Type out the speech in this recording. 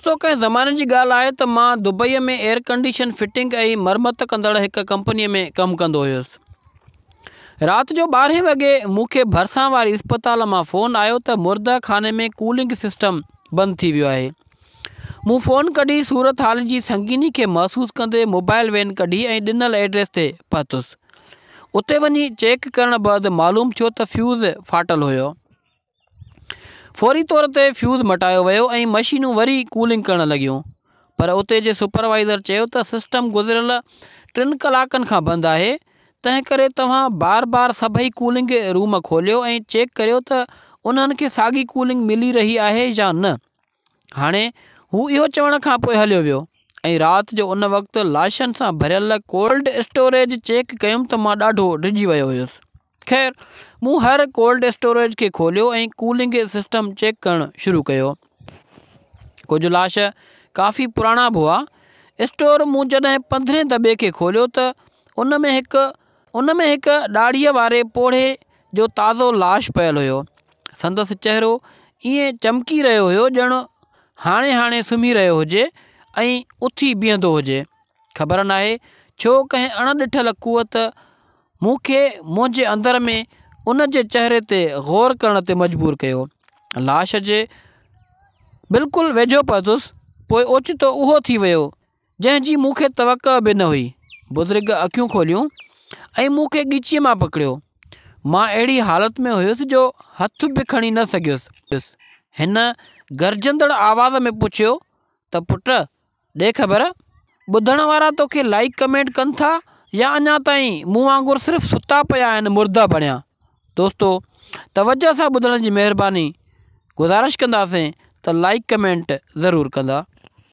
دوستو ڪنهن زماني جي ڳالهه آهي ته مان دبئي ۾ ايئر ڪنڊيشن فٽنگ ۽ مرمت ڪندڙ هڪ ڪمپني ۾ ڪم ڪندو هيس. رات جو ٻارهين وڳي مون کي ڀرسان واري اسپتال مان فون آيو ته مرده خاني ۾ ڪولنگ سسٽم بند ٿي ويو آهي. مون فون ڪڍي صورتحال جي سنگيني کي محسوس ڪندي موبائل وين ڪڍي ۽ ڏنل ايڊريس تي پهتس. اتي وڃي چيڪ ڪرڻ بعد معلوم ٿيو ته فيوز ڦاٽل هيو. فوري طور تي فيوز مٽايو ويو ۽ مشينون وري ڪولنگ ڪرڻ لڳيون پر اتي جي سپروائيزر چيو ته سسٽم گذريل ٽن ڪلاڪن کان بند آهي تنهنڪري توهان بار بار سڀئي ڪولنگ روم کوليو ۽ چيڪ ڪريو ته انهن کي ساڳي ڪولنگ ملي رهي آهي يا نه هاڻي هو اهو چوڻ کان پوء هليو ويو ۽ رات جو ان وقت لاشن سان ڀريل ڪولڊ اسٽوريج چيڪ ڪيم ته مان ڏاڍو ڊڄي ويو هيس. خير مون هر ڪولڊ اسٽوريج کي کوليو ۽ ڪولنگ سسٽم چيڪ ڪرڻ شروع ڪيو. ڪجهه لاش ڪافي پراڻا به هئا. اسٽور مون جڏهن پندرهين دٻي کي کوليو ته ان ۾ هڪ ان ۾ هڪ ڏاڙهيء واري پوڙهي جو تازو لاش پيل هيو. سندس چهرو ائين چمڪي رهيو هيو ڄڻ هاڻي هاڻي سمهي رهيو هجي ۽ اٿي بيهندو هجي. خبر ناهي ڇو ڪنهن اڻ ڏٺل قوت مون کي منهنجي اندر ۾ ان جي چهري تي غور ڪرڻ تي مجبور ڪيو. لاش جي بلڪل ويجهو پهتس، پوء اوچتو اهو ٿي ويو جنهن جي مون کي توقع به نه هئي بزرگ اکيون کوليون ۽ مون کي ڳچيء مان پڪڙيو مان اهڙي حالت ۾ هيس جو هٿ به کڻي نه سگهيس هن گرجندڙ آواز ۾ پڇيو ته پٽ ڏي خبر ٻڌڻ وارا توکي لائيڪ ڪمينٽ ڪن ٿا يا اڃا تائين مون وانگر صرف ستا پيا آهن مرده بڻيا دوستو توجه سان ٻڌڻ جي مهرباني گذارش ڪنداسين ته لائيڪ ڪمينٽ ضرور ڪندا